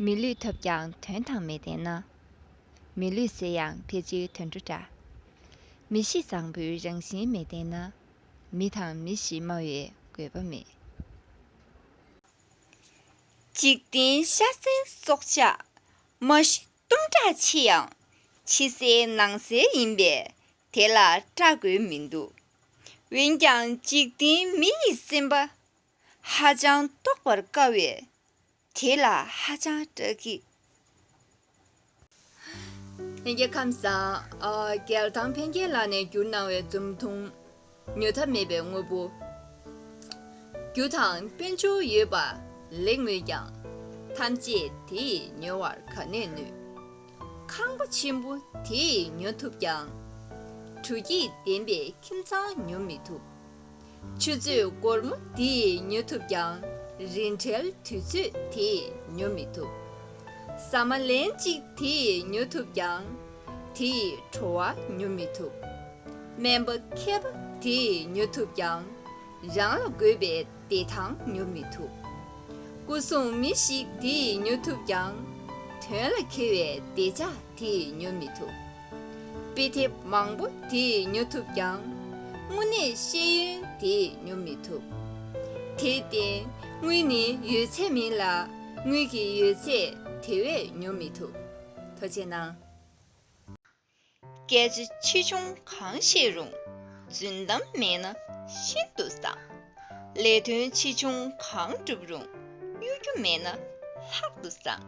མི་ལུས་ཐོབ་ཀྱང་དོན་དང་མི་ལྡན་ན། མི་ལུས་ཟད་ཡང་ཕལ་ཆེར་དུད་འགྲོ་འདྲ། མི་གཤིས་བཟང་པོའི་རང་བཞིན་མི་ལྡན་ན། མི་དང་མི་གཤིས་སྨྲ་བའི་དགོས་པ་མེད། འཇིག་རྟེན་ཤ་གསེང་སྲོག་ཆགས་མ་གཞི་གཏུམ་དྲག་ཆེ་ཡང། ཕྱི་གསལ་ནང་གསལ་ཡིན་པས་དེ་ལ་སྐྲག་དགོས་མི་འདུག། འོན་ཀྱང་འཇིག་རྟེན་མི་ཡི་སེམས་པ་ཧ་ཅང་རྟོགས་པར་དཀའ་བས་དེ་ལ་ཧ་ཅང་སྐྲག་གི། ཡན་གྱི་ཁམས་སངས་རྒྱས་དང་ཕན་རྒྱལ་ལགས་ནས་བསྒྱུར་གནང་བའི་རྩོམ་ཐུང། ཉོ་ཐབས་མེད་པའི་དངོས་པོ། རྒྱུ་དང་དཔལ་འབྱོར་ཡོད་པ་ལེགས་མོད་ཀྱང། ཐམས་ཅད་དེ་ཡིས་ཉོ་བར་ག་ནས་ནུས། ཁང་པ་ཆེན་པོ་དེ་ཡིས་ཉོ་ཐུབ་ཀྱང། གྲུ་སྐྱིད་ལྡན་པའི་ཁྱིམ་ཚང་ཉོ་མི་ཐུབ། ཆུ་ཚོད་སྒོར་མོ་འདིས་ཉོ་ཐུབ་ཀྱང། རིན་བྲལ་དུས་ཚོད་དེས་ཉོ་མི་ཐུབ། ཟ་མ་ལན་གཅིག་དེས་ཉོ་ཐུབ་ཀྱང། དེ་ཡིས་བྲོ་བ་ཉོ་མི་ཐུབ། སྨན་པ་མཁས་པ་དེས་ཉོ་ཐུབ་ཀྱང། རང་ལ་དགོས་པའི་བདེ་ཐང་ཉོ་མི་ཐུབ། སྐུ་སྲུང་མི་ཞིག་དེས་ཉོ་ཐུབ་ཀྱང། དོན་ལ་འཁེལ་བའི་བདེ་འཇགས་དེས་ཉོ་མི་ཐུབ། དཔེ་དེབ་མང་པོ་དེས་ཉོ་ཐུབ་ཀྱང། དངོས་གནས་ཤེས་ཡོན་དེས་ཉོ་མི་ཐུབ། དེས་བརྟེན་དངུལ་ནི་ཡོད་ཚད་མིན་ལ་དངུལ་གྱི་ཡོད་ཚད་དེ་བས་ཉོ་མི་ཐུབ། དོ་ཅེ་ན། སྐད་ཆ་ཆེ་ཆུང་གང་བཤད་རུང་རྫུན་གཏམ་མེད་ན་ཤིན་ཏུ་བཟང། ལས་དོན་ཆེ་ཆུང་གང་བསྒྲུབ་རུང་གཡོ་སྒྱུ་མེད་ན་ལྷག་ཏུ་བཟང།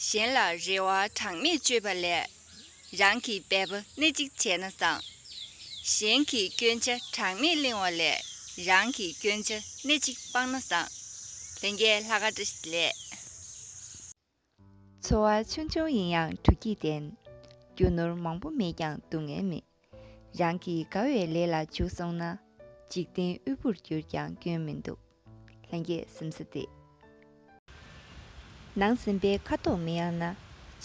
གཞན་ལ་རེ་བ་གྲངས་མེད་བཅོལ་བ་ལས། རང་གི་འབད་པ་སྣེ་གཅིག་བྱས་ན་བཟང། གཞན་གྱི་སྐྱོན་ཆ་གྲངས་མེད་གླེང་བ་ལས་རང་གི་སྐྱོན་ཆ་སྣེ་གཅིག་སྤང་ན་བཟང། ལན་རྒྱས་ལྷ་ཁ་བཀྲ་ཤིས་ལས། འཚོ་བ་ཆུང་ཆུང་ཡིན་ཡང་དྲོ་སྐྱིད་ལྡན། རྒྱུ་ནོར་མང་པོ་མེད་ཀྱང་སྡུག་བསྔལ་མེད། རང་གི་དགའ་བའི་ལས་ལ་འཇུག་སོང་ན། འཇིག་རྟེན་དབུལ་པོར་གྱུར་ཀྱང་སྐྱོན་མི་འདུག་ལྷན་སྐྱེས་སེམས་ས་དེ། ནང་ཟིན་པའི་ཁ་དོག་མི་ཡང་ན།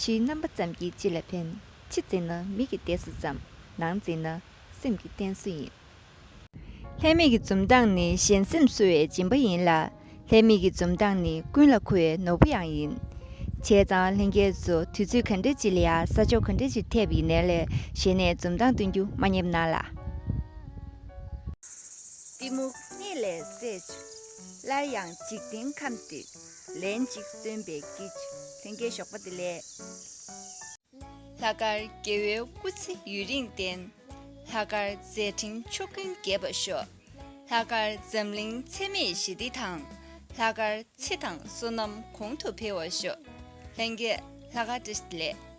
ཕྱིའི་རྣམ་པ་ཙམ་གྱིས་ཅི་ལ་ཕན། ཕྱི་འཛིན་ན་མིག་གི་ལྟས་སུ་ཙམ། ནང་འཛིན་ན་སེམས་ཀྱི་རྟེན་སུ་ཡིན། ལྷའི་མིག་གི་འཛུམ་མདངས་ནི་གཞན་སེམས་གསོ་བའི་སྦྱིན་པ་ཡིན་ལ། ལྷའི་མིག་གི་འཛུམ་མདངས་ནི་ཀུན་ལ་མཁོ་བའི་ནོར་བུ་ཡང་ཡིན། བྱས་ཙང་ལྷན་སྐྱེས་སུ་དུས་ཚོད་ག་འདྲའི་ལྕི་ལ་ཡང་ས་ཕྱོགས་ག་འདྲའི་ལྕི་ཐེབས་ཡིན་ནའི་ལྷའི་ཞལ་ནས་འཛུམ་མདངས་སྟོན་རྒྱུ་མ་རྙེད་ན་ལ། གཏི་མུག་སྙེད་ལས་སད་བྱ། སླར་ཡང་འཇིག་རྟེན་ཁམས་འདི་ལན་ཅིག་སྟོན་པའི་དཀྱིལ། ལྷན་སྐྱེས་ཞོགས་པ་འདི་ལས། ལྷ་དཀར་རྒྱལ་བོའི་སྐུ་ཚེ་ཡུན་རིང་བརྟན། ལྷ་དཀར་མཛད་འཕྲིན་ཕྱུག་ཀུན་རྒྱས་པར་ཤོག། ལྷ་དཀར་འཛམ་གླིང་འཚེ་མེད་ཞི་བདེ་དང། ལྷ་དཀར་ཚེ་དང་བསོད་ནམས་གོང་དུ་འཕེལ་བར་ཤོག། ལྷན་རྒྱས་ལྷ་དཀར་བཀྲ་ཤིས་ལེགས།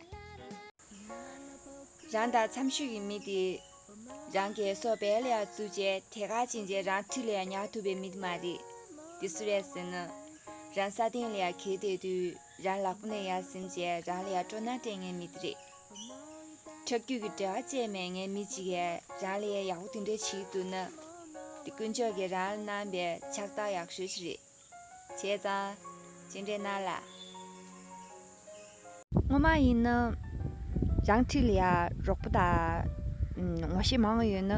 རང་དང་འཚམས་ཤོས་ཀྱི་མི་དེ་རང་གི་སོ་བལ་ཡག་བཙུགས་རྗེས་དེ་ག་ཕྱིན་རྗེས་རང་འཐུས་ལས་ཉར་ཐུབ་པའི་མི་དེ་མ་རེད། དེ་སུ་རེད་ཟེར་ན། རང་ས་སྟེང་ལས་གལ་ཏེ་དུས་རང་ལག་པོ་ནས་ཡར་ཟིན་རྗེས་རང་ལས་སྤྲོ་སྣང་སྤྲད་ངེས་མི་དེ་རེད། ཁྱབ་རྒྱུད་ཀྱི་འབྲེལ་བ་བཅད་མེད་ངས་མི་གཅིག་གིས་རང་ལ་ཡ་ཡག་པོ་དེ་འདྲ་བྱེད་ཐུབ་ན། འདི་དཀོན་མཆོག་གིས་རང་ལ་གནང་པའི་ཕྱག་རྟགས་ཡག་ཤོས་ཤིག་རེད། བྱས་ཙང། ཅི་འདྲའི་གནང་ལ། ངོ་མ་ཡིན་ན། རང་འཁྲིས་ལ་ཡ་རོགས་པོ་དང། ངོ་ཤེས་མང་བོ་ཡོད་ན།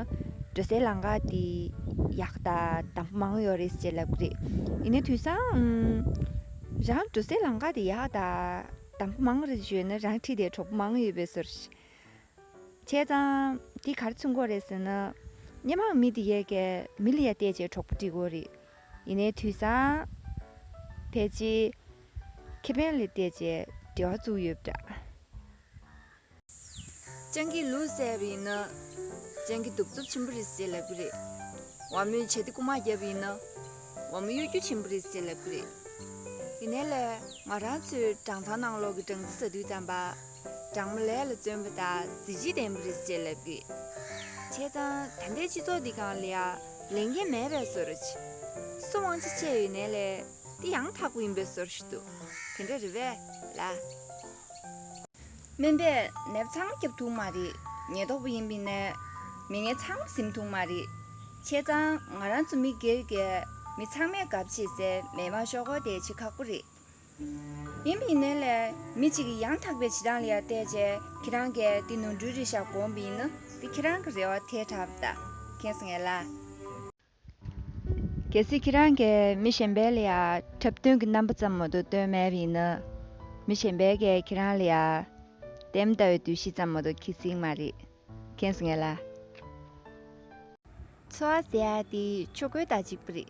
འགྲོ་སའི་ལམ་ཁ་དེ་ཡག་དང་དམ་པོ་མང་བོ་ཡོད་རེད་ཅེས་ལབ་ཀི་རེད། ཡིན་ན་དུས་སང། རང་འགྲོ་སའི་ལམ་ཁ་དེ་ཡག་དང། དང་པོ་མང་རེད་ཞུས་ནས་རང་ཁྲིད་དེ་གྲོགས་པོ་མང་ཡོད་པའི་ཟུར། བྱས་ཙང། དེ་གར་ཚུན་གོ་རེད་ཟེར་ན། སྙན་མང་མི་དེ་ཡས་ཀས་མི་ལ་ཡ་བལྟས་བྱས་གྲོགས་པོ་འདྲི་གོ་རེད། ཡིན་ནའི་དུས་སང། ཕལ་ཆེ། ཁེ་ཕན་ལ་བལྟས་བྱས་འབྲེལ་བ་བཙུགས་ཡོད་པ་འདྲ། སྤྱང་ཀིའི་ལུས་བསད་པ་ཡིན་ན། སྤྱང་ཀི་གདུག་རྩུབ་ཆེན་པོ་རེད་ཟེར་ལབ་ཀི་རེད། བ་མོས་བྱ་ཏི་རྐུ་མ་བརྒྱབ་པ་ཡིན་ན། བ་མོ་གཡོ་སྒྱུ་ཆེན་པོ་རེད་ཟེར་ལབ་ཀི་རེད། དེ་ནས་ལས་ང་རང་ཚོའི་སྦྲང་ཚང་ནང་ལོགས་ཀྱི་སྦྲང་རྩི་ཟ་དུས་རྩམ་པ། སྦྲང་མ་ལས་ལ་བརྩོན་པ་དང་གཟི་བརྗིད་ལྡན་པ་རེད་ཟེར་ལབ་ཀི་རེད། བྱས་ཙང་ད་ལྟའི་སྤྱི་ཚོགས་འདི་གང་ལ་ཡང་ལས་འགན་མེད་པའི་བཟོ་ར་ཆེ། སུ་དབང་ཆ་ཆད་ཡོད་ནའི་ལས་འདི་ཡང་དག་པོ་ཡིན་པའི་བཟོ་ར་ཞིག་འདུག་དེ་འདྲ་རེད་བས་ལ། སྨན་པས་ནད་པ་ཚང་མ་སྐྱབས་ཐུག་མ་རེད། ཉེན་རྟོག་པ་ཡིན་པས་ནད་མི་ངན་ཚང་མ་གཟིམ་ཐུག་མ་རེད། ཁྱེད་ཚང་ང་རང་ཚོ་མི་སྒེར་གྱི་མི་ཚང་མས་དགའ་བྱེད་སའི་མེ་མ་ཤོག་གོ་དེ་བྱེད་ཁག་པོ་རེད། ཡིན་པས་ནད་ལས་མི་གཅིག་གིས་ཡང་དག་པའི་བྱེད་སྟངས་ལ་ཡར་བལྟས་རྗེས་ཁྱེད་རང་གིས་དེ་ནོར་འཁྲུལ་རེད་བཞག་དགོངས་པ་ཡིན་ན་དེ་ཁྱེད་རང་གི་རེ་བ་ཐལ་དྲགས་པ་དང་ཁེངས་ངེས་ལ། གལ་སྲིད་ཁྱེད་རང་གིས་མི་གཞན་པའི་ལ་ཡར་འཁྲབ་སྟོན་གྱི་རྣམ་པ་ཙམ་མོ་དོ་སྟོན་མེད་པ་ཡིན་ན། མི་གཞན་པས་ཀྱང་ཁྱེད་རང་ལ་ཡར། དེ་མི་ལྟ་བའི་དུས་གཞི་ཙམ་མོ་དོ་ཁྱི་ཚིག་མ་རེད། ཁེངས་སོང་ངེས་ལ། འཚོ་བ་ཟེར་ཡ་དེ་ཆོས་གོས་དང་གཅིག་པུ་རེད།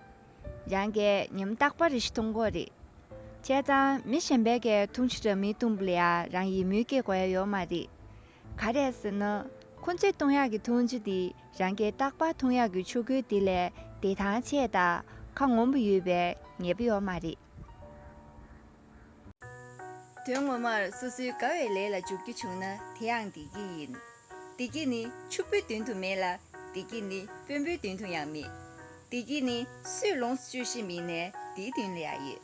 རང་གི་ཉམ་རྟག་པ་རེ་ཞིག་མཐོང་དགོས་རེད། བྱས་ཙང་མི་གཞན་པས་ཀྱང་འཐུང་ཆུ་ར་མི་འཐུང་བ་ལ་ཡར་རང་ཡིད་མུན་སྐྱེ་དགོས་ཡ་ཡོད་མ་རེད། ག་རེད་ཟེར་ན། ཁོ་ཚོས་ཐུང་ཡག་གི་འཐུང་ཆུ་དེ་རང་སྐད་རྟག་པར་ཐུང་ཡག་གི་ཆུ་ཁོལ་དེ་ལས་བདེ་ཐང་ཆེ་དང་ཁ་སྔོན་པོ་ཡོད་པའི་ངེས་པ་ཡོད་མ་རེད། དོན་ངོ་མར་སོ་སོའི་དགའ་བའི་ལས་ལ་འཇུག་རྒྱུ་བྱུང་ན་དེ་ཡང་བདེ་སྐྱིད་ཡིན། བདེ་སྐྱིད་ནི་ཕྱུག་པོའི་མདུན་དུ་མེད་ལ། བདེ་སྐྱིད་ནི་དཔོན་པོའི་མདུན་དུ་ཡང་མེད། བདེ་སྐྱིད་ནི་སུས་ལོངས་སྤྱོད་ཤེས་མིན་ནས་དེའི་མདུན་ལ་ཡང་ཡོད།